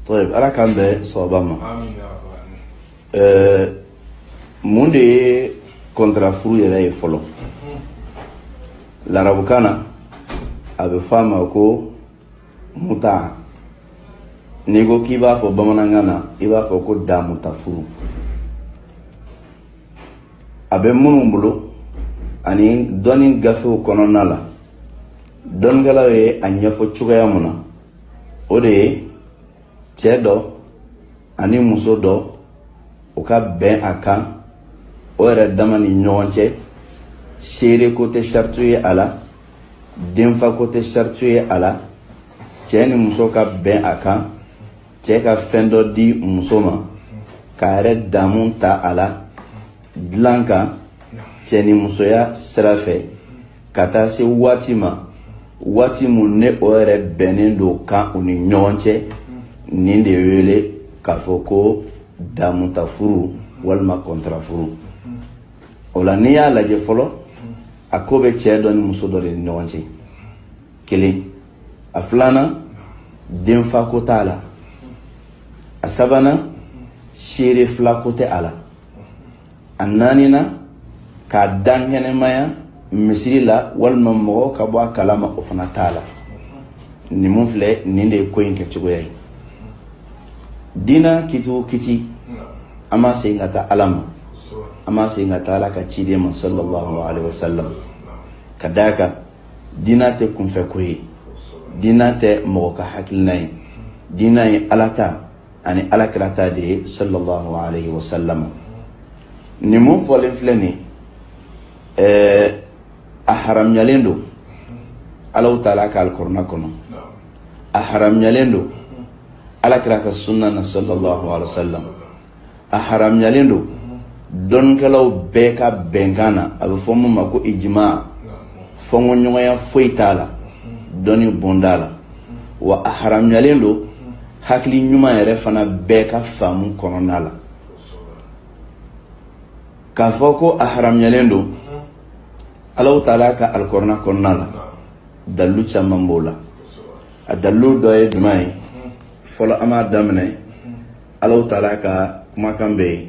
طيب ala k'an bɛn sawaba ma amin ya rabbal alamin ɛɛ mun de ye kɔntara furu yɛrɛ ye fɔlɔ larabukan na a bɛ fɔ a ma ko muta n'i ko k'i b'a fɔ bamanankan na i b'a fɔ ko damuta furu a bɛ minnu bolo ani dɔnni gafew kɔnɔna la dɔnnikɛlaw ye a ɲɛfɔ cogoya mun na o de ye cɛ dɔ ani muso dɔ u ka bɛn a kan o yɛrɛ dama ni ɲɔgɔn cɛ seere ko tɛ sariti ye a la denfa ko tɛ sariti ye a la cɛ ni muso ka bɛn a kan cɛ ka fɛn dɔ di muso ma k'a yɛrɛ damu ta a la dilan kan cɛ ni musoya sira fɛ ka taa se waati ma waati mun ne o yɛrɛ bɛnnen don kan u ni ɲɔgɔn cɛ nin de wele k'a fɔ ko damutafuru walima kɔntarafuru o la n'i y'a lajɛ fɔlɔ a ko bɛ cɛ dɔ ni muso dɔ de ni ɲɔgɔn cɛ kelen a filanan denfa ko t'a la a sabanan seere fila ko tɛ a la a naaninan k'a dankɛnɛmaya misiri la walima mɔgɔ ka bɔ a kalama o fana t'a la nin mun filɛ nin de ye ko in kɛcogoya ye diina kiti o kiti an b'a segin ka taa ala ma an b'a segin ka taa ala ka ciden ma sallallahu alaihi wasallam ka d'a kan diina tɛ kunfɛko ye diina tɛ mɔgɔ ka hakilina ye diina ye ala ta ani alakira ta de ye sallallahu alaihi wasallam nin mun fɔlen filɛ nin ɛɛ a haramuyalen don alahu taala ka alikɔrɔna kɔnɔ a haramuyalen don alakira ka sunna na sallallahu alaihi wasallam a haramuyalen don dɔnnikɛlaw bɛɛ ka bɛnkan na a bɛ fɔ min ma ko ijima fɔnkɔɲɔgɔnya foyi t'a la dɔnni bonda la wa a haramuyalen don hakili ɲuman yɛrɛ fana bɛɛ ka faamu kɔnɔna la k'a fɔ ko a haramuyalen don alahu taala ka alikɔrɔna kɔnɔna la dalilu caman b'o la a dalilu dɔ ye jumɛn ye fɔlɔ an b'a daminɛ Ala taara ka kumakan bɛ yen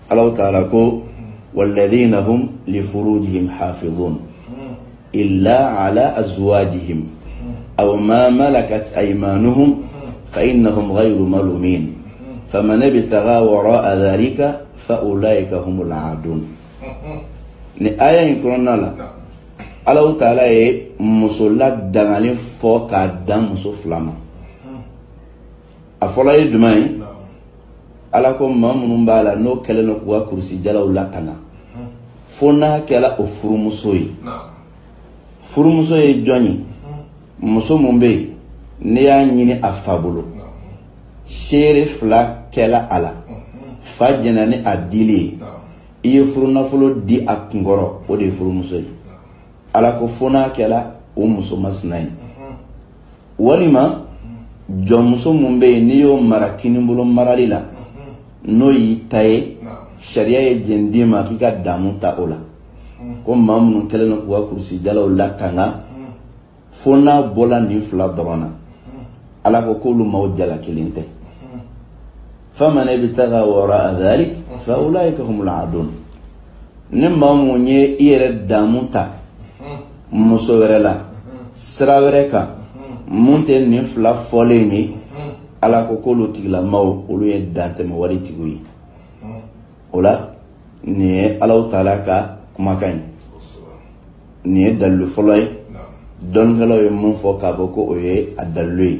Ala taara ko waladina furu hafi i la ala awaji a ma ma la ka ma fa i na malo min fa ne bɛ taa wɔɔrɔ azali ka fa o la ka don ni a y' in kɔnɔna la Ala taara ye musola dangalen fɔ k'a dan muso fila ma a fɔlɔ ye jumɛn ye ala ko maa minnu b'a la n'o kɛlen don k'u ka kurusijalaw latanga fo n'a kɛla o furumuso ye furumuso ye jɔn ye muso mun bɛ yen n'i y'a ɲini a fa bolo seere fila kɛla a la fa jɛnna ni a dili ye i ye furunafolo di a kunkɔrɔ o de ye furumuso ye ala ko fo n'a kɛla o muso masina ye walima jɔnmuso mun bɛ yen n'i y'o mara kinibolo marali la n'o y'i ta ye sariya ye jɛn d'i ma k'i ka damu ta o la ko maa minnu kɛlen don k'u ka kurusijalaw latanga fo n'a bɔla nin fila dɔrɔn na ala ko k'olu maaw jalakilen tɛ faman ibtaga wara'a dhalik fa ulaika humul adun ni maa mun ye i yɛrɛ damu ta muso wɛrɛ la sira wɛrɛ kan mun tɛ nin fila fɔlen ye ala ko k'olu tigilamaw olu ye dantɛmɛ wale tigiw ye o la nin ye alahu taala ka kumakan ye nin ye dalilu fɔlɔ ye dɔnnikɛlaw ye mun fɔ k'a fɔ ko o ye a dalilu ye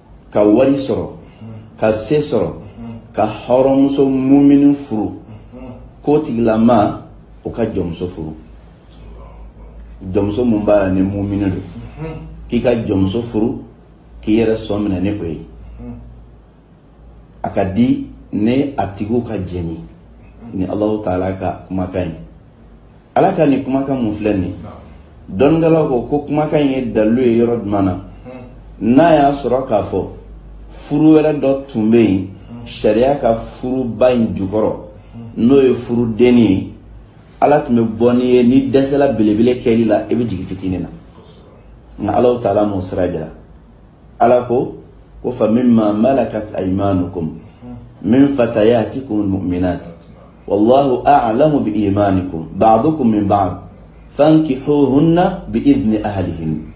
ka wari sɔrɔ ka se sɔrɔ ka hɔrɔnmuso mumini furu k'o tigilamaw ka jɔnmuso furu jɔnmuso mun b'a la ni mumini don k'i ka jɔnmuso furu k'i yɛrɛ sɔn minɛ ni o ye a ka di ni a tigiw ka jɛn ye nin alahu taala ka kumakan ye ala ka nin kumakan mun filɛ nin dɔnnikɛlaw ko ko kumakan in ye dalilu ye yɔrɔ jumɛn na n'a y'a sɔrɔ k'a fɔ furu wɛrɛ dɔ tun bɛ yen sariya ka furuba in jukɔrɔ n'o ye furudennin ye ala tun bɛ bɔ n'i ye n'i dɛsɛla belebele kɛli la i bɛ jigin fitinin na nka alahu taala m'o sira jira ala ko ko fa min ma malakat aymanukum min fatayatikumul mu'minat Wallahu a'lamu bi imanikum ba'dukum min ba'd fankihuhunna bi idni ahlihin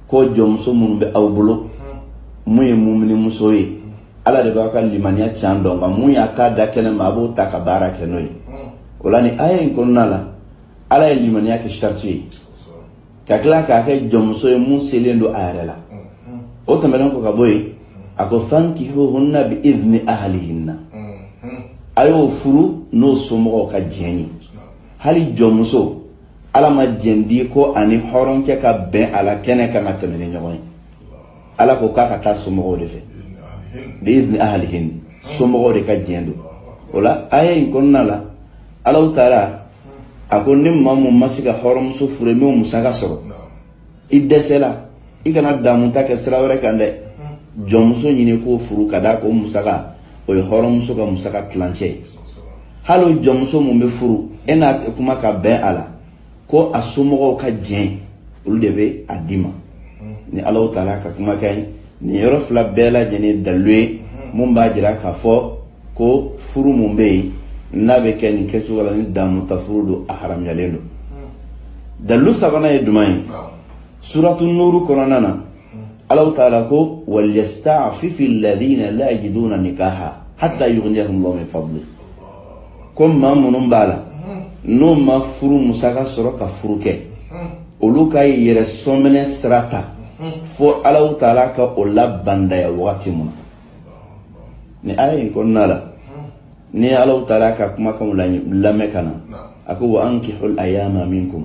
ko jɔnmuso minnu bɛ aw bolo mun ye mumini muso ye ala de b'a ka limaniya can dɔn nka mun y'a ta da kɛnɛ ma a b'o ta ka baara kɛ n'o ye o la nin aya in kɔnɔna la ala ye limaniya kɛ sariti ye ka tila k'a kɛ jɔnmuso ye mun selen don a yɛrɛ la o tɛmɛnen kɔ ka bɔ yen a ko fankihuhunna bi idni ahlihinna a y'o furu n'o somɔgɔw ka diɲɛ ye hali jɔnmuso ala ma diɲɛ di ko a ni hɔrɔnkɛ ka bɛn a la kɛnɛ kan ka tɛmɛ ni ɲɔgɔn ye ala ko k'a ka taa somɔgɔw de fɛ bi idni ahlihin somɔgɔw de ka diɲɛ don o la aya in kɔnɔna la allahu taala a ko ni maa mun ma se ka hɔrɔnmuso furuli musaka sɔrɔ i dɛsɛla i kana damuta kɛ sira wɛrɛ kan dɛ jɔnmuso ɲini k'o furu ka d'a kan o musaka o ye hɔrɔnmuso ka musaka tilancɛ ye hali o jɔnmuso mun bɛ furu e n'a kuma ka bɛn a la ko a somɔgɔw ka jɛn olu de bɛ a d'i ma ni allahu taala ka kumakan ye nin yɔrɔ fila bɛɛ lajɛlen dalilu ye mun b'a jira k'a fɔ ko furu mun bɛ yen n'a bɛ kɛ nin kɛcogo la ni damuta furu don a haramuyalen don dalilu sabanan ye jumɛn ye suratu nuru kɔnɔna na allahu taala ko walyastaafifi ladina la yajiduna nikaha hatta yughniyahum llahu min fadli ko maa minnu b'a la n'o ma furu musaka sɔrɔ ka furu kɛ olu ka yɛrɛ sɔminɛ sira ta fo allahu taala ka o labandaya wagati mun na ni aya in kɔnɔna la ni allahu taala ka kumakanw lamɛn ka na a ko wa ankihul ayama minkum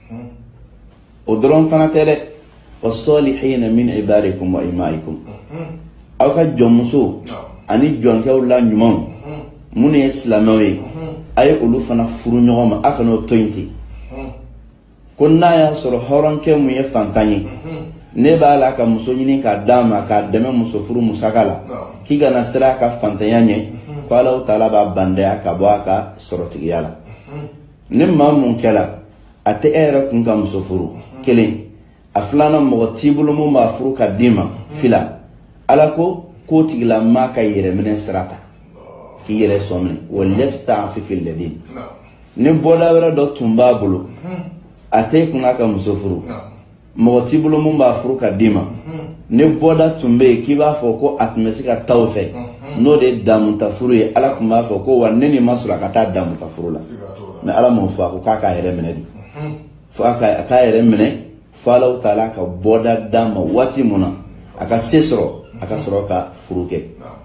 o dɔrɔn fana tɛ dɛ wa salihina min ibadikum wa imaikum aw ka jɔnmusow ani jɔnkɛw la ɲumanw minnu ye silamɛw ye a ye olu fana furu ɲɔgɔn ma a kan'o to yen ten ko n'a y'a sɔrɔ hɔrɔnkɛ mun ye fantan ye n'e b'a la ka muso ɲini k'a d'a ma k'a dɛmɛ muso furu musaka la k'i kana siran a ka fantanya ɲɛ ko allahu taala b'a bandaya ka bɔ a ka sɔrɔtigiya la ni maa mun kɛla a tɛ e yɛrɛ kun ka muso furu kelen a filanan mɔgɔ t'i bolo mun b'a furu ka d'i ma fila ala ko k'o tigilamaa ka yɛrɛminɛ sira ta k'i yɛrɛ sɔn minɛ walyastaafifi ladin ni bɔda wɛrɛ dɔ tun b'a bolo a t'e kun ka muso furu mɔgɔ t'i bolo mun b'a furu ka d'i ma ni bɔda tun bɛ yen k'i b'a fɔ ko a tun bɛ se ka taa o fɛ n'o de ye damuta furu ye ala tun b'a fɔ ko wa ni nin ma sɔrɔ a ka taa damuta furu la mɛ ala m'o fɔ a ko k'a k'a yɛrɛ minɛ de fo a k'a yɛrɛ minɛ fo allahu taala ka bɔda d'a ma waati mun na a ka se sɔrɔ a ka sɔrɔ ka furu kɛ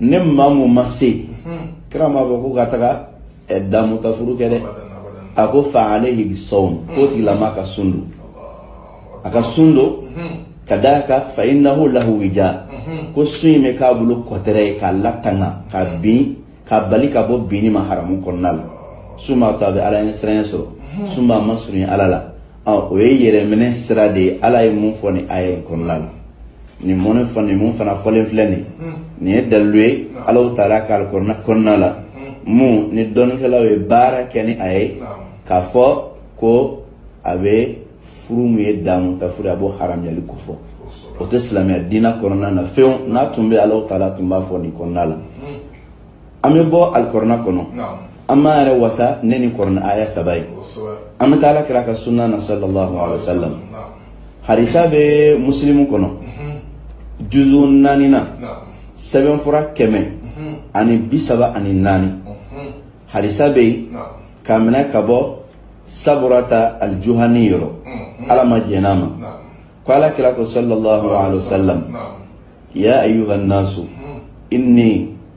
ni maa mun ma se kira m'a fɔ ko ka taga damutafuru kɛ dɛ a ko fa alayhi bisawm k'o tigilama ka sun don a ka sun don ka d'a kan fa innahu lahu wija ko sun in bɛ k'a bolo kɔtɛrɛ ye k'a latanga ka bin k'a bali ka bɔ binni ma haramu kɔnɔna la sun b'a to a bɛ ala ɲɛsiranya sɔrɔ sun b'a masurunya ala la Ɔ o ye yɛrɛminɛ sira de ye ala ye mun fɔ nin aya kɔnɔna la nin mɔnɛ fɔ nin mun fana fɔlen filɛ nin nin ye dalilu ye ala taala ka kɔrɔna la mun ni dɔnnikɛlaw ye baara kɛ ni a ye k'a fɔ ko a bɛ furu min ye damu ta furu a b'o haramuyali ko fɔ o tɛ silamɛya diinɛ kɔnɔna na fewu n'a tun bɛ ala taala tun b'a fɔ nin kɔnɔna la an bɛ bɔ alikɔrɔna kɔnɔ an b'an yɛrɛ wasa ni nin kɔrɔna aya saba ye an bɛ taa ala kira ka sunna na sallallahu alaihi wa sallam harisa bɛ musilimu kɔnɔ juzu naani na sɛbɛnfura kɛmɛ ani bi saba ani naani harisa bɛ yen k'a minɛ ka bɔ saburata alijuhani yɔrɔ ala ma jɛnna a ma ko ala kira ko sallallahu alaihi wa sallam ya ayuha nasu inni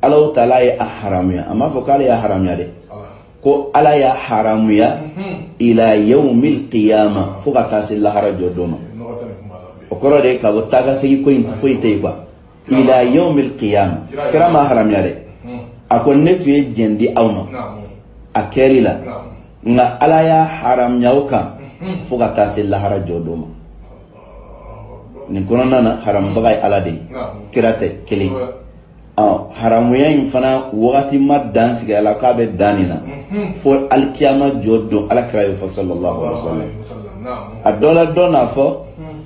Ala taala ye a haramuya a m'a fɔ k'ale y'a haramuya dɛ ko ala y'a haramuya ila yawmil qiyama fo ka taa se lahara jɔ don ma o kɔrɔ de ka bɔ taa ka segin ko in foyi tɛ yen ila yawmil qiyama kira m'a haramuya dɛ a ko ne tun ye jɛn di aw ma a kɛli la nka ala y'a haramuya aw kan fo ka taa se lahara jɔ don ma nin kɔnɔna na haramubaga ye ala de ye kira tɛ kelen haramuya in fana wagati ma dan sigi a la k'a bɛ dan nin na fo alikiyama jɔ don ala kira y'o fɔ sallallahu alaihi wa sallam a dɔ la dɔ n'a fɔ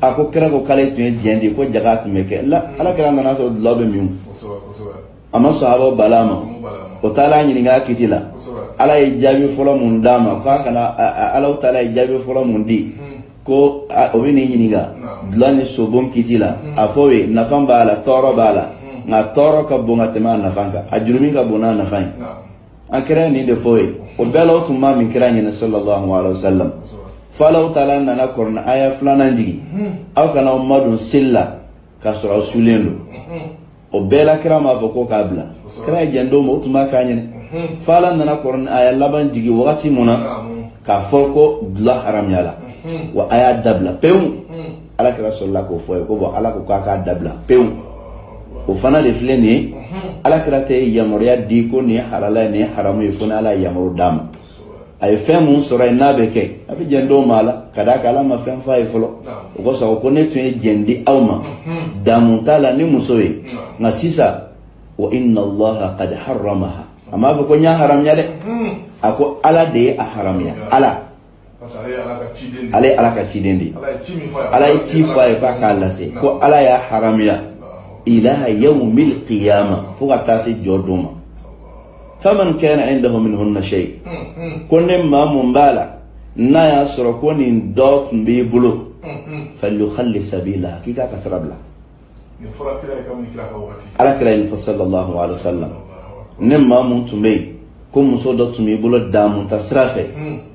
a ko kira ko k'ale tun ye jɛn di ko jaga tun bɛ kɛ la ala kira nana sɔrɔ dulɔ bɛ min a ma sahabaw bal'a ma o taala ɲininka kiti la ala ye jaabi fɔlɔ mun d'a ma k'a kana ala taala ye jaabi fɔlɔ mun di ko o bɛn'i ɲininka dulɔ ni sobon kiti la mm. a fɔ u ye nafa b'a la tɔɔrɔ b'a la mm. nka tɔɔrɔ ka bon ka tɛmɛ a nafa kan a jurumi ka bon n'a nafa ye an kira nin de fɔ u ye o bɛɛ la o tun b'a min kira ɲɛna sallallahu alaihi wa sallam fo alahu taala nana kɔrɔna aya filanan jigin mm. aw kana aw madon seli la k'a sɔrɔ aw sulen don mm-hmm. o bɛɛ la kira m'a fɔ ko k'a bila kira ye jɛn d'u ma o tun b'a kɛ a ɲɛna fo ala nana kɔrɔna aya laban jigin wagati mun na k'a fɔ ko dulɔ haramuyala wa a y'a dabila pewu ala kira sɔrɔla k'o fɔ u ye ko bɔn ala ko k'a k'a dabila pewu o fana de filɛ nin ye ala kira tɛ yamaruya di ko nin ye halala ye nin ye haramu ye fo ni ala ye yamaru d'a ma a ye fɛn mun sɔrɔ yen n'a bɛ kɛ a bɛ jɛn d'u ma a la ka d'a kan ala ma fɛn f'a ye fɔlɔ o kosɔn ko ne tun ye jɛn di aw ma damu ta la ni muso ye nka sisan wa inna allaha qad haramaha a m'a fɔ ko n y'a haramuya dɛ a ko ala de ye a haramuya ala ale ye ala ka ciden de ye ala ye ci fɔ a ye k'a k'a lase ko ala y'a haramuya ila yawmil qiyama fo ka taa se jɔ don ma faman kana indahu minhunna shay ko ni maa mun b'a la n'a y'a sɔrɔ ko nin dɔ tun b'i bolo falyukhalli sabila k'i k'a ka sira bila ala kira ye nin fɔ sallallahu alaihi wasallam ni maa mun tun bɛ yen ko muso dɔ tun b'i bolo damuta sira fɛ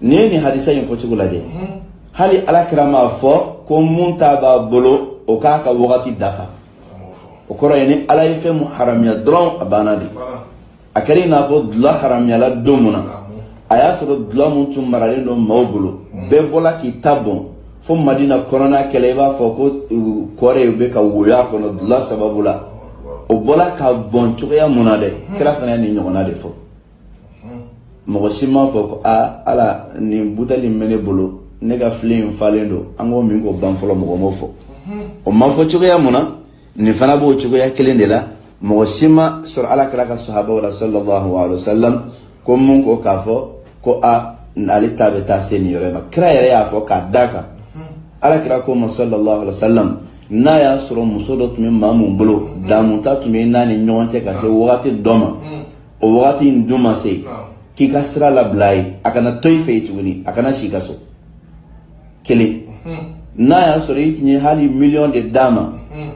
n'i ye nin hadisa in fɔcogo lajɛ hali ala kira m'a fɔ ko mun ta b'a bolo o k'a ka wagati dafa o kɔrɔ ye ni ala ye fɛn mun haramiya dɔrɔn a banna de a kɛra i n'a fɔ dula haramiyala don mun na a y'a sɔrɔ dula mun tun maralen don maaw bolo bɛɛ bɔla k'i ta bɔn fo madina kɔnɔna kɛlen i b'a fɔ ko kɔ yɛrɛ bɛ ka woyo a kɔnɔ dula sababu la o bɔla ka bɔn cogoya mun na dɛ kira fana ye nin ɲɔgɔnna de fɔ mɔgɔ si m'a fɔ ko aa ala nin buteli min bɛ ne bolo ne ka filen in falen don an k'o min k'o ban fɔlɔ mɔgɔ m'o fɔ o ma fɔ cogoya mun na nin fana b'o cogoya kelen de la mɔgɔ si ma sɔrɔ ala kira ka sahabaw la sallallahu alaihi wasallam ko mun ko k'a fɔ ko a ale ta bɛ taa se nin yɔrɔ in ma kira yɛrɛ y'a fɔ k'a da kan ala kira ko ma sallallahu alaihi wasallam n'a y'a sɔrɔ muso dɔ tun bɛ maa mun bolo damuta tun bɛ n'a ni ɲɔgɔn cɛ ka se wagati dɔ ma o wagati in dun ma se k'i k'a sira labila ye a kana to i fɛ yen tuguni a kana si i ka so kelen mhm. n'a y'a sɔrɔ i tun ye hali miliyɔn de d'a ma mhm.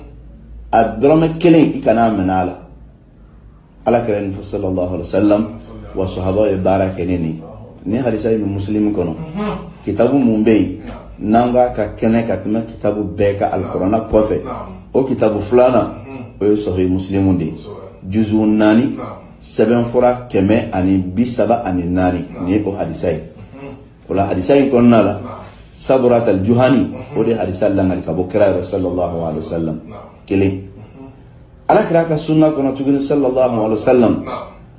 a dɔrɔmɛ kelen i kana a minɛ a la ala kira ye nin fɔ sallallahu alaihi wa sallam wa sahaba ye baara kɛ ni nin nin hadisa bɛ muslim kɔnɔ kitabu mun bɛ yen n'an k'a ka kɛnɛ ka tɛmɛ kitabu bɛɛ kan alikurana kɔfɛ o kitabu filanan o ye sahih muslimu de ye juzu naani sɛbɛnfura kɛmɛ ani bi saba ani naani nin ye o hadisa ye o la hadisa in kɔnɔna la sabrat al juhani o de hadisa lakali ka bɔ kira yɛrɛ sallallahu alaihi wasallam kelen ala kira ka sunna kɔnɔ tuguni sallallahu alaihi wasallam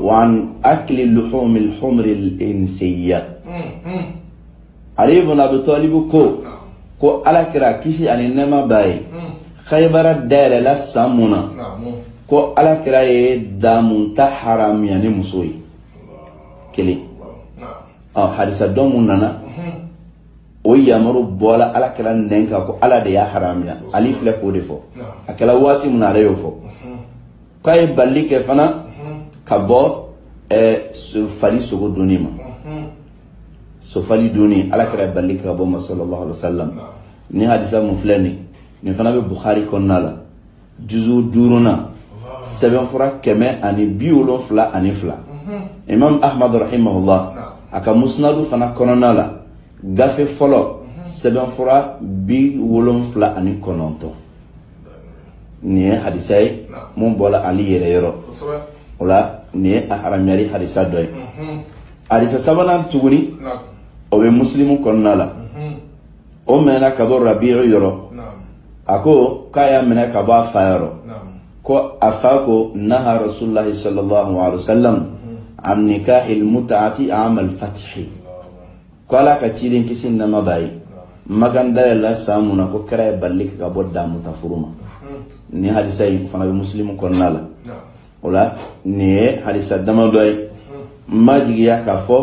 wa an akli luhumil humuril insiya ali ibn abi talibu ko ko ala kira kisi ani nɛɛma b'a ye khaybara dayɛlɛla san mun na ko ala kira ye damuta haramiya ni muso ye kelen ah, hadisa dɔ mun nana o yamaru bɔla ala kira nɛn kan ko ala de y'a haramiya ali filɛ k'o de fɔ a kɛra waati min na ale y'o fɔ k'a ye balili kɛ fana ka bɔ fali sogo dunni ma sofali dunni ala kira bali ka bɔ o ma sallallahu alaihi wasallam nin hadisa mun filɛ nin nin fana bɛ bukhari kɔnɔna la juzu duurunan sɛbɛnfura kɛmɛ ani bi wolonfila ani fila imam ahmad rahimahullah a ka musnadu fana kɔnɔna la gafe fɔlɔ sɛbɛnfura bi wolonfila ani kɔnɔntɔn nin ye hadisa ye mun bɔra ali yɛrɛ yɔrɔ o la nin ye a haramuyali hadisa dɔ ye hadisa sabanan tuguni o bɛ musilimu kɔnɔna la o minɛna ka bɔ rabiyu yɔrɔ a ko k'a y'a minɛ ka bɔ a fa yɔrɔ ko a fa ko naha rasulullahi sallallahu alaihi wa sallam an nikahil mutaati amal fatihi ko ala ka ciden kisi ni nɛɛma b'a ye makan dayɛlɛla san mun na ko kira ye balili kɛ ka bɔ damuta furu ma nin hadisa in fana bɛ musilimu kɔnɔna la o la nin ye hadisa dama dɔ ye n b'a jigiya k'a fɔ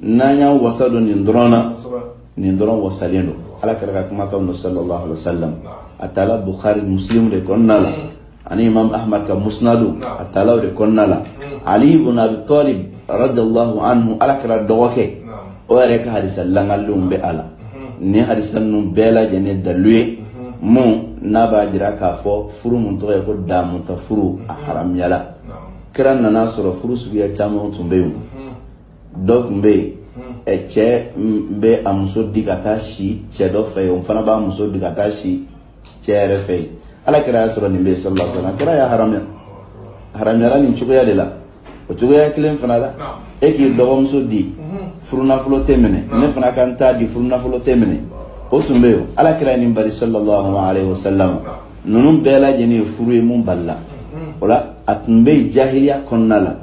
n'an y'an wasa don nin dɔrɔn na nin dɔrɔn wasalen don ala kira ka kumakan don sallallahu alaihi wa sallam a tala bukhari musilimu de kɔnɔna la ani imam ahmad ka musnadu a tala o de kɔnɔna la hmm. ali ibn abi talib radiyallahu anhu ala kira dɔgɔkɛ o yɛrɛ ka hadisa lakalilenw bɛ a la hmm. nin hadisa ninnu bɛɛ lajɛlen dalilu ye hmm. mun n'a b'a jira k'a fɔ furu mun tɔgɔ ye ko damuta furu a haramuyala kira nan'a sɔrɔ furu suguya caman tun bɛ yen dɔ tun bɛ yen cɛ bɛ a muso di ka taa si cɛ dɔ fɛ yen o fana b'a muso di ka taa si cɛ yɛrɛ fɛ yen ala kira y'a sɔrɔ nin bɛ yen sallallahu alaihi wasallam kira y'a haramuya haramuyara nin cogoya de la o cogoya kelen fana la e k'i dɔgɔmuso di furunafolo tɛ minɛ ne fana ka n ta di furunafolo tɛ minɛ o tun bɛ yen ala kira ye nin bari sallallahu alaihi wasallam ninnu bɛɛ lajɛlen ye furu ye mun balila o la a tun bɛ yen jahiliya kɔnɔna la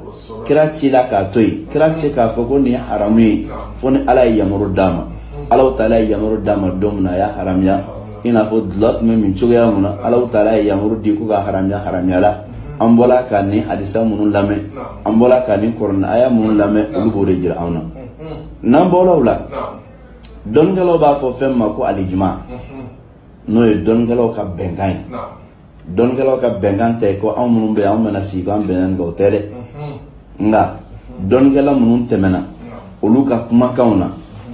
kira cila k'a to yen kira tɛ k'a fɔ ko nin ye haramu ye fo ni ala ye yamaru d'a ma ala taala ye yamaru d'a ma don min na a y'a haramuya i n'a fɔ dulɔ tun bɛ min cogoya mun na ala taala ye yamaru di ko k'a haramuya haramuyala an bɔla ka nin hadisa minnu lamɛn an bɔla ka nin kurana aya minnu lamɛn olu b'o de jira anw na n'an bɔla o la dɔnnikɛlaw b'a fɔ fɛn ma ko al-ijma n'o ye dɔnnikɛlaw ka bɛnkan ye dɔnnikɛlaw ka bɛnkan tɛ ko anw minnu bɛ anw bɛna sigi k'an bɛnna nin kan o tɛ dɛ nka dɔnnikɛla minnu tɛmɛna olu ka kumakanw na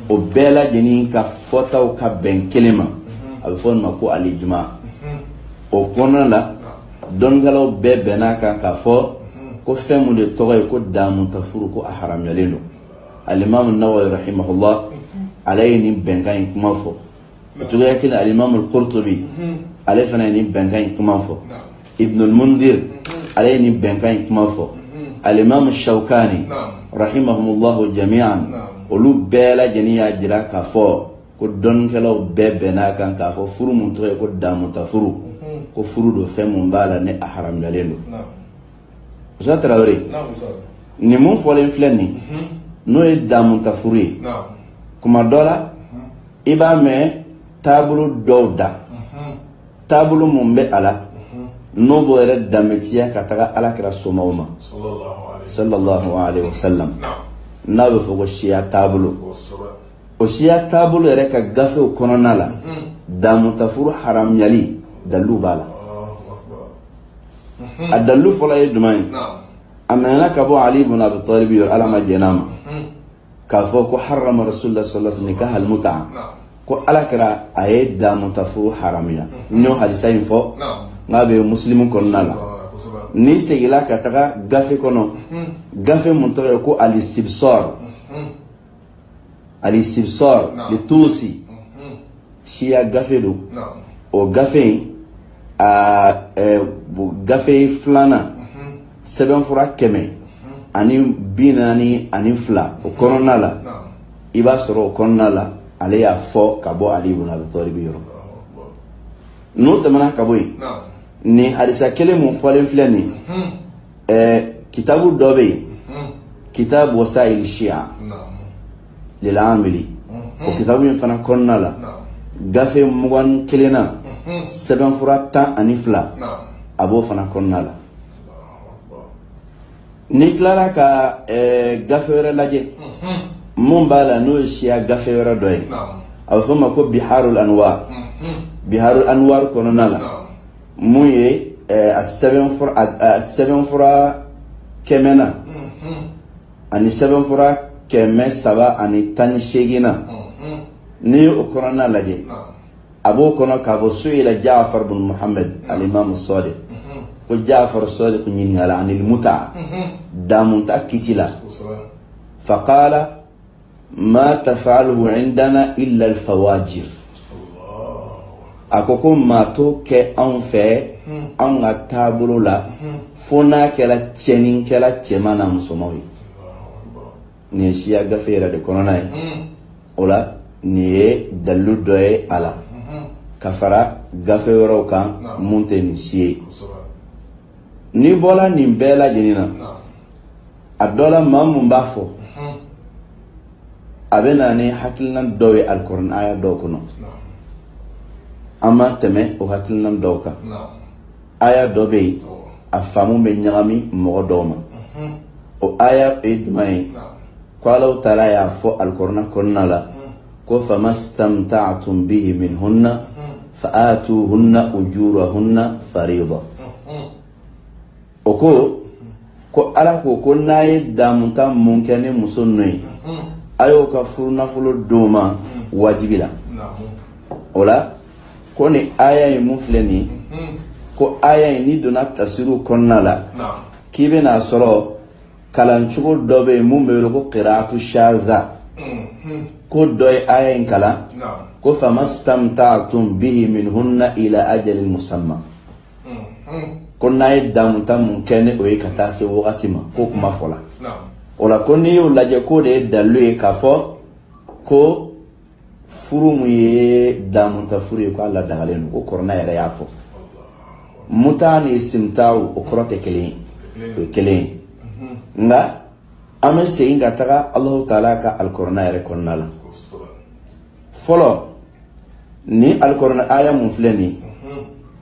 o bɛɛ lajɛlen ka fɔtaw ka bɛn kelen ma a bɛ fɔ nin ma ko al-ijma o kɔnɔna la dɔnnikɛlaw bɛɛ bɛnn'a kan k'a fɔ ko fɛn mun de tɔgɔ ye ko daamutafuru ko a haramuyalen don alimamu nawawi rahimahullah ale ye nin bɛnkan in kuma fɔ o cogoya kelen alimamu al-Qurtubi ale fana ye nin bɛnkan in kuma fɔ Ibn al-Mundhir ale ye nin bɛnkan in kuma fɔ alimamu Shawkani rahimahumullahu jami'an olu bɛɛ lajɛlen y'a jira k'a fɔ ko dɔnnikɛlaw bɛɛ bɛnn'a kan k'a fɔ furu mun tɔgɔ ye ko damutafuru ko furu don fɛn mun b'a la ni a haramuyalen don Usutazi Tarawele, naamu Musa, nin mun fɔlen filɛ nin ye, unhun, n'o ye damutafuru ye, naamu, kuma dɔ la, unhun, i b'a mɛn taabolo dɔw da, unhun, taabolo mun bɛ a la, unhun, n'o b'o yɛrɛ danbetiya ka taga alakira somaw ma, sallallahu alayhi wa sallam, sallallahu alayhi wa sallam, naamu, n'a bɛ fɔ ko siya taabolo. kosɛbɛ, O siya taabolo yɛrɛ ka gafew kɔnɔna la, unhun, damutafuru haramuyali dalilu b'a la. a dalilu fɔlɔ ye jumɛn ye a minɛna ka bɔ ali ibn abi talib yɔrɔ ala ma jɛn'a ma k'a fɔ ko harama rasulullah sallallahu alaihi wasallam nikah al-mut'a ko alakira a ye damutafuru haramuya n y'o hadisa in fɔ n'a bɛ musilimu kɔnɔna la n'i seginna ka taga gafe kɔnɔ gafe mun tɔgɔ ye ko al-istibsar al-istibsar li tuusi mhm. siya gafe don o gafe in a gafe filanan mhm. sɛbɛnfura kɛmɛ mhm. ani bi naani ani fila o kɔnɔna la i b'a sɔrɔ o kɔnɔna la ale y'a fɔ ka bɔ ali ibn abi talib yɔrɔ n'o tɛmɛna ka bɔ yen nin hadisa kelen mun fɔlen filɛ nin ɛɛ kitabu dɔ bɛ yen hmm. kitabu wasayili siya lil amili hmm. o kitabu in fana kɔnɔna la gafe mugan ni kelennan hmm. sɛbɛnfura tan ani fila a b'o fana kɔnɔna la n'i tilara ka ɛɛ gafe wɛrɛ lajɛ mun b'a la n'o ye siya gafe wɛrɛ dɔ ye a bɛ f'o ma ko biharul anwar biharul anwar kɔnɔna la. mun ye eh, a sɛbɛnfura a- a sɛbɛnfura kɛmɛ na ani sɛbɛnfura kɛmɛ saba ani tan ni seegin na n'i ye o kɔnɔna lajɛ a b'o kɔnɔ k'a fɔ su'ila jaafar bin muhammed alimamu sadiq ko jaafar sadiq ɲininkala anil mut'a damuta kiti la faqala ma tafaluhu indana illa alfawajir a ko ko maa t'o kɛ anw fɛ hmm. anw ka taabolo la hmm. fo n'a kɛra jɛnɛkɛla cɛman n'a musomanw ye nin ye siya gafe yɛrɛ de kɔnɔna ye hmm. o la nin ye dalilu dɔ ye a la ka fara gafe wɛrɛw kan mun tɛ nin si ye N'i bɔra nin bɛɛ lajɛlen na a dɔ la maa mun b'a fɔ a bɛ na ni hakilinan dɔw ye alikurana aya dɔw kɔnɔ an ma tɛmɛ o hakilinan dɔw kan aya dɔ bɛ yen a faamu bɛ ɲagami mɔgɔ dɔw ma o aya ye jumɛn ye ko Alahu taala y'a fɔ alikurana kɔnɔna la ko famastamta'tum bihi minhunna fa'atuhunna ujurahunna fariida o ko ko ala ko ko n'a ye damuta mun kɛ ni muso ninnu ye a y'o ka furu nafolo d'o ma wajibi la o la ko nin aya in mun filɛ nin ko aya in n'i donna tafsiriw kɔnɔna la k'i bɛna sɔrɔ kalan cogo dɔ bɛ yen mun bɛ wele ko kiraatu shaza ko dɔ ye aya in kalan ko famastamta'tum bihi minhunna ila ajalin musamma ko n'a ye damuta mun kɛ ni o ye ka taa se wagati ma ko kuma fɔla o la ko n'i y'o lajɛ k'o de ye dalilu ye k'a fɔ ko furu mun ye damuta furu ye k'a ladagalen don ko kɔrɔna yɛrɛ y'a fɔ muta ni istimta'u o kɔrɔ tɛ kelen ye o ye kelen ye nka an bɛ segin ka taga alahu taala ka alikɔrɔna yɛrɛ kɔnɔna la fɔlɔ nin alikɔrɔna aya mun filɛ nin ye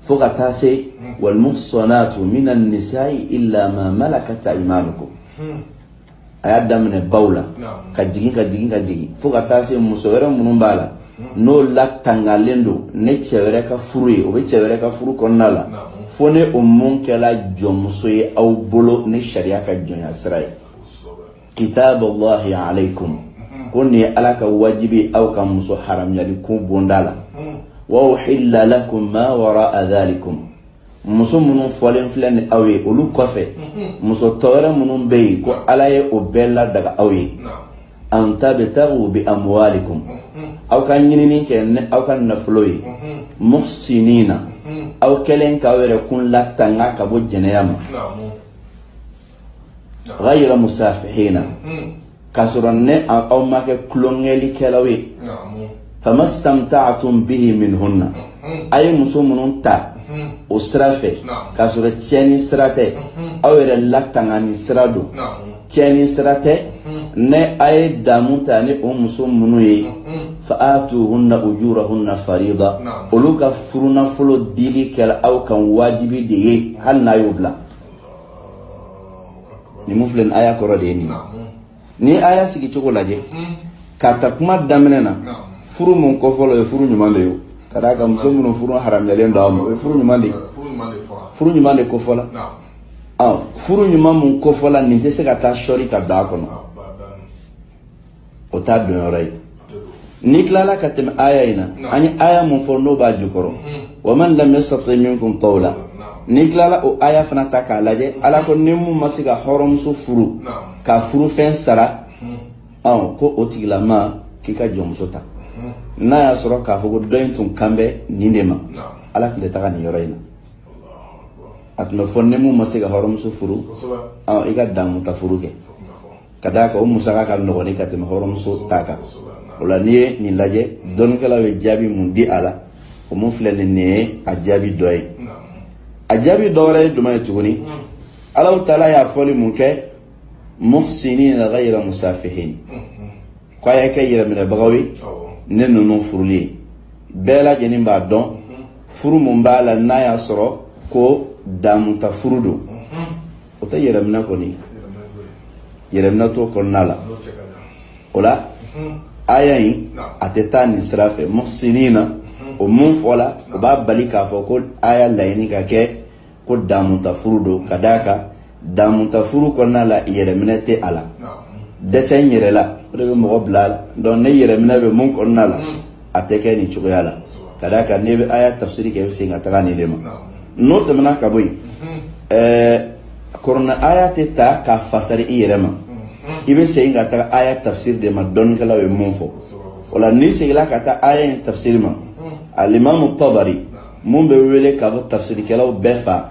fo ka taa se walmuhsanatu mina nisai illa ma malakat aymanukum a y'a daminɛ baw la ka jigin ka jigin ka jigin fo ka taa se muso wɛrɛ minnu b'a la n'o latangalen don ne cɛ wɛrɛ ka furu ye o bɛ cɛ wɛrɛ ka furu kɔnɔna la fo ne o mun kɛla jɔnmuso ye aw bolo ni sariya ka jɔnya sira ye kitaballahi alaykum ko nin ye ala ka wajibi aw ka muso haramuyali ko bonda la wa uhilla lakum ma wara'a dhalikum muso minnu fɔlen filɛ nin aw ye olu kɔfɛ muso tɔ wɛrɛ minnu bɛ yen ko ala ye o bɛɛ ladaga aw ye an tabtagu bi amwalikum aw ka ɲinini kɛ ni aw ka nafolo ye muhsinina aw kɛlen k'aw yɛrɛ kun latanga ka bɔ jɛnɛya ma ghayra musafihina k'a sɔrɔ ne aw ma kɛ kolonkɛlikɛlaw ye famastamta'tum bihi minhunna a ye muso minnu ta o sira fɛ k'a sɔrɔ tiɲɛni sira tɛ aw yɛrɛ latangani sira don tiɲɛni sira tɛ ne a ye damu ta ni o muso minnu ye fa atuhunna ujurahunna farida olu ka furunafolo dili kɛla aw kan wajibi de ye hali n'a y'o bila nin mun filɛ nin aya kɔrɔ de ye nin ni aya sigi cogo lajɛ k'a ta kuma daminɛ na furu mun kofɔla o ye furu ɲuman de ye ka d'a kan muso minnu furu haramuyalen don a ma o ye furu ɲuman de kofɔla furu ɲuman mun kofɔla nin tɛ se ka taa sɔri ka don a kɔnɔ o t'a donyɔrɔ ye n'i tilala ka tɛmɛ aya in na an ye aya mun fɔ n'o b'a jukɔrɔ wa man lam yastati minkum tawla n'i tilala o aya fana ta k'a lajɛ ala ko ni mun ma se ka hɔrɔnmuso furu ka furufɛn sara ɔn ko o tigilama k'i ka jɔnmuso ta n'a y'a sɔrɔ k'a fɔ ko dɔ in tun kan bɛ nin de ma ala tun tɛ taga nin yɔrɔ in na a tun b'a fɔ ni mun ma se ka hɔrɔnmuso furu i ka damu ta furu kɛ ka d'a kan o musaka ka nɔgɔn ni ka tɛmɛ hɔrɔnmuso ta kan o la n'i ye nin lajɛ dɔnnikɛlaw ye jaabi mun di a la o mun filɛ nin nin ye a jaabi dɔ ye a jaabi dɔ wɛrɛ ye jumɛn ye tuguni ala taala y'a fɔli mun kɛ muhsinina ghayra musafihin ko a y'a kɛ yɛrɛminɛbagaw ye ni ninnu furuli ye bɛɛ lajɛlen b'a dɔn furu mun b'a la n'a y'a sɔrɔ ko damuta furu don o tɛ yɛrɛminɛ kɔni yɛrɛminɛ t'o kɔnɔna la o la aya in a tɛ taa nin sira fɛ muhsinina o mun fɔla o b'a bali k'a fɔ ko aya laɲini ka kɛ ko damutafuru don ka d'a kan damutafuru kɔnɔna la yɛrɛminɛ tɛ a la dɛsɛ n yɛrɛ la o de bɛ mɔgɔ bila a la donc ni yɛrɛminɛ bɛ mun kɔnɔna la a tɛ kɛ nin cogoya la ka d'a kan n'i bɛ aya tafsiri kɛ i bɛ segin ka taga nin de ma n'o tɛmɛna ka bɔ yen ɛɛ kurana aya tɛ ta k'a fasari i yɛrɛ ma i bɛ segin ka taga aya tafsiri de ma dɔnnikɛlaw ye mun fɔ o la n'i seginna ka taa aya in tafsiri ma alimamu tabari mun bɛ wele ka bɔ tafsirikɛlaw bɛɛ fa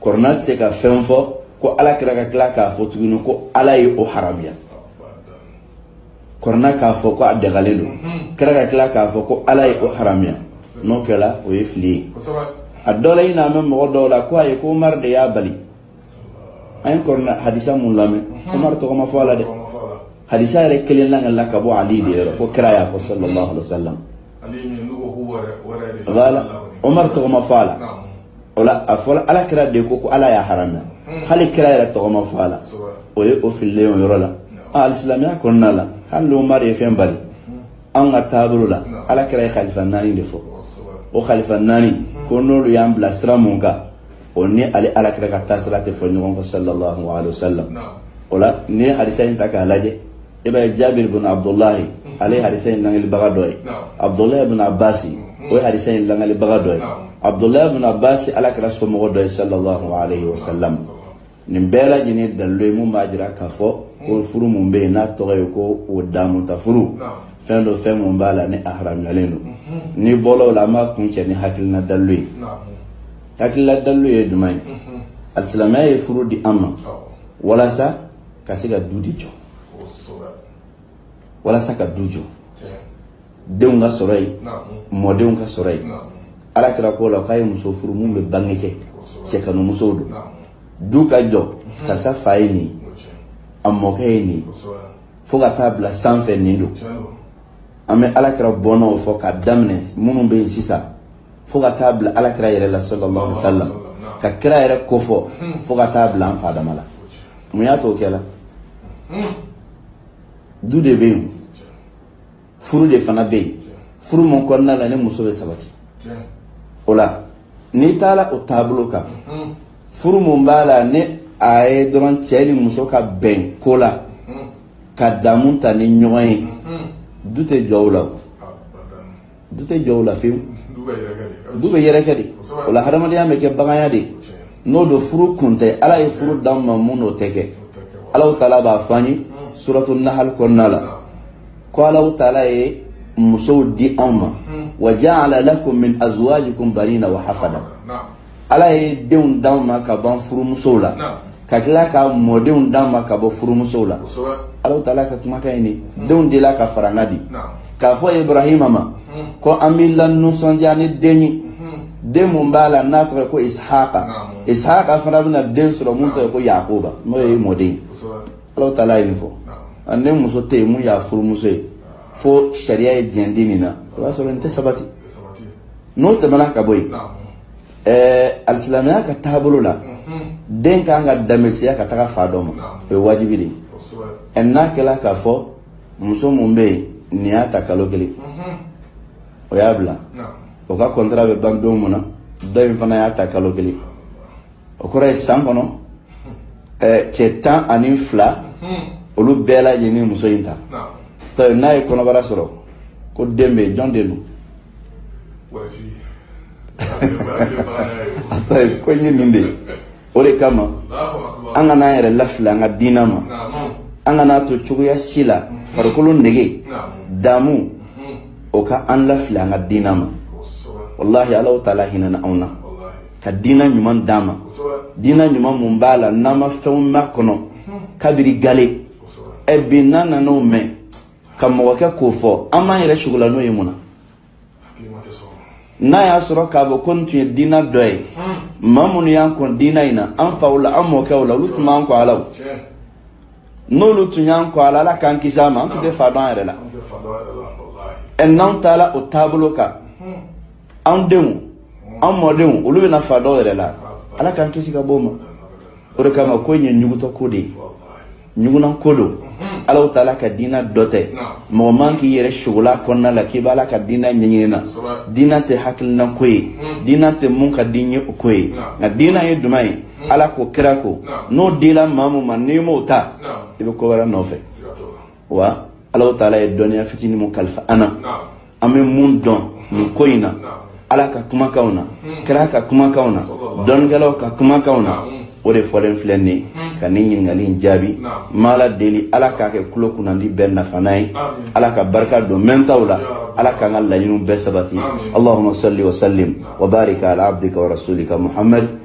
kurana tɛ se ka fɛn fɔ ko ala kira ka tila k'a fɔ tuguni ko ala ye o haramuya kurana k'a fɔ ko a dagalen don mhm. kira ka tila k'a fɔ ko ala ye o haramuya n'o kɛra o ye fili ye a dɔ la i n'a mɛn mɔgɔ dɔw la ko ayi ko umaru de y'a bali an ye kɔrɔna hadisa mun lamɛn mhm. umaru tɔgɔ ma fɔ a la dɛ hadisa yɛrɛ kelen lakalila ka bɔ ali de yɔrɔ ko kira y'a fɔ sallallahu alaihi wa sallam o la umaru tɔgɔ ma fɔ a la o la a fɔra ala kira de ko ko ala y'a haramuya hali kira yɛrɛ tɔgɔ ma fɔ a la o ye o fililen o yɔrɔ la a alisilamɛya kɔnɔna la hali n'umaru ye fɛn bali an ka taabolo la ala kira ye kalifa naani de fɔ o kalifa naani ko n'olu y'an bila sira mun kan o ni ale ala kira ka taasira tɛ fɔ ɲɔgɔn kɔ sallallahu alaihi wasallam o la n'i ye hadisa in ta k'a lajɛ i b'a ye jabiri bin abdulahi ale ye hadisa in langalibaga dɔ ye abdulahi bin abasi o ye hadisa in langalibaga dɔ ye abdulahi bin abasi ala kira somɔgɔ dɔ ye sallallahu alayhi wa sallam nin bɛɛ lajɛlen dalilu ye mun b'a jira k'a fɔ ko furu mun bɛ yen n'a tɔgɔ ye ko o damuta furu fɛn don fɛn mun b'a la ni a haramuyalen don n'i bɔla o la an b'a kuncɛ ni hakilina dalilu ye hakilina dalilu ye jumɛn ye alisilamɛya ye furu di an ma walasa ka se ka du di jɔ walasa ka du jɔ denw ka sɔrɔ yen mɔdenw ka sɔrɔ yen ala kira ko la k'a ye muso furu min bɛ bange kɛ cɛkanumusow don du ka jɔ mhm. karisa fa ye nin a mɔkɛ ye nin fo ka taa bila sanfɛ nin don an bɛ ala kira bɔnnaw fɔ k'a daminɛ minnu bɛ yen sisan fo ka taa bila alakira yɛrɛ la sallallahu alaihi wasallam ka kira yɛrɛ kofɔ fo ka taa bila an fa adama la mun y'a to o kɛla du de bɛ yen furu de fana bɛ yen furu mun kɔnɔna la ni muso bɛ sabati o la n'i taara o taabolo kan furu mun b'a la ni a ye dɔrɔn cɛ ni muso ka bɛn ko la ka damu ta ni ɲɔgɔn ye du tɛ jɔ o la du tɛ jɔ o la fewu du bɛ yɛrɛkɛ de o la hadamadenya bɛ kɛ baganya de n'o don furu kun tɛ ala ye furu d'an ma mun n'o tɛ kɛ ala taala b'a fɔ an ye suratu nahali kɔnɔna la ko ala taala ye musow di anw ma wa jaala lakum min azwajikum banina wa hafada ala ye denw d'anw ma ka b'an furumusow la ka tila ka mɔdenw d'an ma ka bɔ furumusow la ala taala ka kumakan ye nin hmm. denw de la ka faranga di k'a fɔ ibrahima ma hmm. ko an b'i lanisɔndiya ni den ye hmm. den mun b'a la n'a tɔgɔ ye ko ishaqa ishaqa fana bɛna den sɔrɔ mun tɔgɔ ye ko yakuba n'o ye mɔden ye ala taala ye nin fɔ ani muso tɛ yen mun y'a furumuso ye fo sariya ye jɛn di nin na o b'a sɔrɔ nin tɛ sabati n'o tɛmɛna ka bɔ yen ɛɛ alisilamɛya ka taabolo la den kan ka danbetiya ka taga fa dɔ ma o ye wajibi de ye ɛ n'a kɛra k'a fɔ muso mun bɛ yen nin y'a ta kalo kelen o y'a bila o ka kɔntara bɛ ban don mun na dɔ in fana y'a ta kalo kelen o kɔrɔ ye san kɔnɔ cɛ tan ani fila olu bɛɛ lajɛlen muso in ta tari n'a ye kɔnɔbara sɔrɔ ko den bɛ yen jɔn den don a t'a ye ko ye nin de ye o de kama an kana an yɛrɛ lafili an ka diinɛ ma an kana to cogoya si la farikolo nege damu o ka an lafili an ka diinɛ ma walahi ala taala hinɛna anw na ka diina ɲuman d'an ma diina ɲuman mun b'a la n'an ma fɛnw mɛn a kɔnɔ kabiri gale ɛ bi n'an nan'o mɛn ka mɔgɔ kɛ k'o fɔ an b'an yɛrɛ sugola n'o ye mun na n'a y'a sɔrɔ k'a fɔ ko nin tun ye diina dɔ ye maa minnu y'an kɔn diina in na an faw la an mɔkɛw la olu tun b'an kɔn a la o n'olu tun y'an kɔn a la ala k'an kisi a ma an tun tɛ fa dɔn an yɛrɛ la ɛ n'anw taara o taabolo kan an denw an mɔdenw olu bɛna fa dɔw yɛrɛ la ala k'an kisi ka b'o ma o de kama ko in ye ɲugutɔ ko de ye ɲugunan ko don ala taala ka diina dɔ tɛ mɔgɔ man k'i yɛrɛ sago la kɔnɔna la k'i b'ala ka diina ɲɛɲini na diina tɛ hakilina ko ye diina tɛ mun ka di n ye o ko ye nka diina ye jumɛn ye ala ko kira ko n'o dila maa min ma n'i m'o ta i bɛ ko wɛrɛ nɔfɛ wa ala taala ye dɔnniya fitinin min kalifa an na an bɛ mun dɔn nin ko in na ala ka kumakanw na hmm. kira ka kumakanw na dɔnnikɛlaw ka kumakanw na hmm. o de fɔlen filɛ nin ye hmm. ka nin ɲininkali in jaabi n b'ala deli ala k'a kɛ kulo kunnandi bɛɛ nafana ye ala ka barika don mɛntaw la ala k'an ka laɲiniw bɛɛ sabati allahuma salli wa sallim wa barik ala abdika wa rasulika muhammad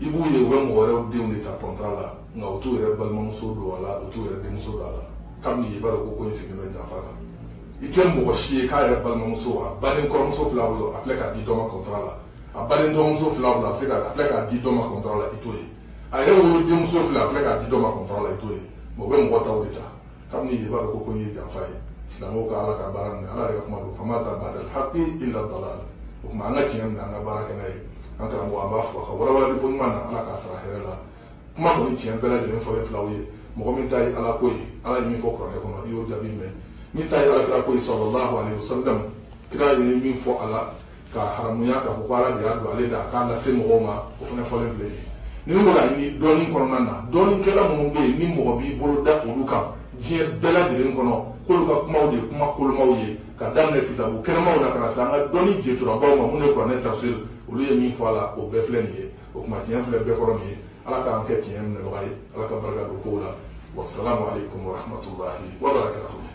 i b'u ye u bɛ mɔgɔ wɛrɛw denw de ta kɔntara la nka u t'u yɛrɛ balimamuso don a la u t'u yɛrɛ denmuso don a la kabini i b'a dɔn ko ko in sigilen bɛ janfa kan i tɛ mɔgɔ si ye k'a yɛrɛ balimamuso a baden kɔrɔmuso fil'a bolo a filɛ k'a di dɔ ma kɔntara la a baden dɔgɔmuso fil'a bolo a bɛ se ka a filɛ k'a di dɔ ma kɔntara la i t'o ye a yɛrɛ wolodenmuso filɛ a filɛ k'a di dɔ ma kɔntara la i t'o ye mɛ u bɛ mɔgɔ taw de ta kabini i b'a dɔn ko ko in ye janfa ye silamɛw ka ala ka baara minɛ ala yɛrɛ ka kuma don famaza bada alhaqi illa dalal o tuma an ka tiɲɛ minɛ an ka baara kɛ n'a ye an karamɔgɔ an b'a fo a ka walawalali ko ɲuman na ala k'a sara hɛrɛ la kuma kɔni tiɲɛ bɛɛ lajɛlen fɔlen fil'aw ye mɔgɔ min ta ye ala ko ye ala ye min fɔ kuranɛ kɔnɔ i y'o jaabi mɛn min ta ye alakira ko ye sɔlɔlahu alehi wasalam kira ye min fɔ a la ka haramuya k'a fɔ ko ala de y'a don ale da k'a lase mɔgɔw ma o fana fɔlen filɛ nin ye n'i bɛ k'a ɲini dɔnni kɔnɔna na dɔnnikɛla minnu bɛ yen ni mɔgɔ b'i bolo da olu kan diɲɛ bɛɛ lajɛlen kɔnɔ k'olu ka kumaw de kuma kolomaw ye ka daminɛ kitabu kɛnɛmaw la ka na se an ka dɔnni jeturabaw ma minnu ye kuranɛ tafsir olu ye min fɔ a la o bɛɛ filɛ nin ye o tuma tiɲɛ filɛ bɛɛ kɔrɔ nin ye ala k'an kɛ tiɲɛ minɛbaga ye ala ka barika don kow la wasalamu aleykum warahmatulahi wabarakatuhu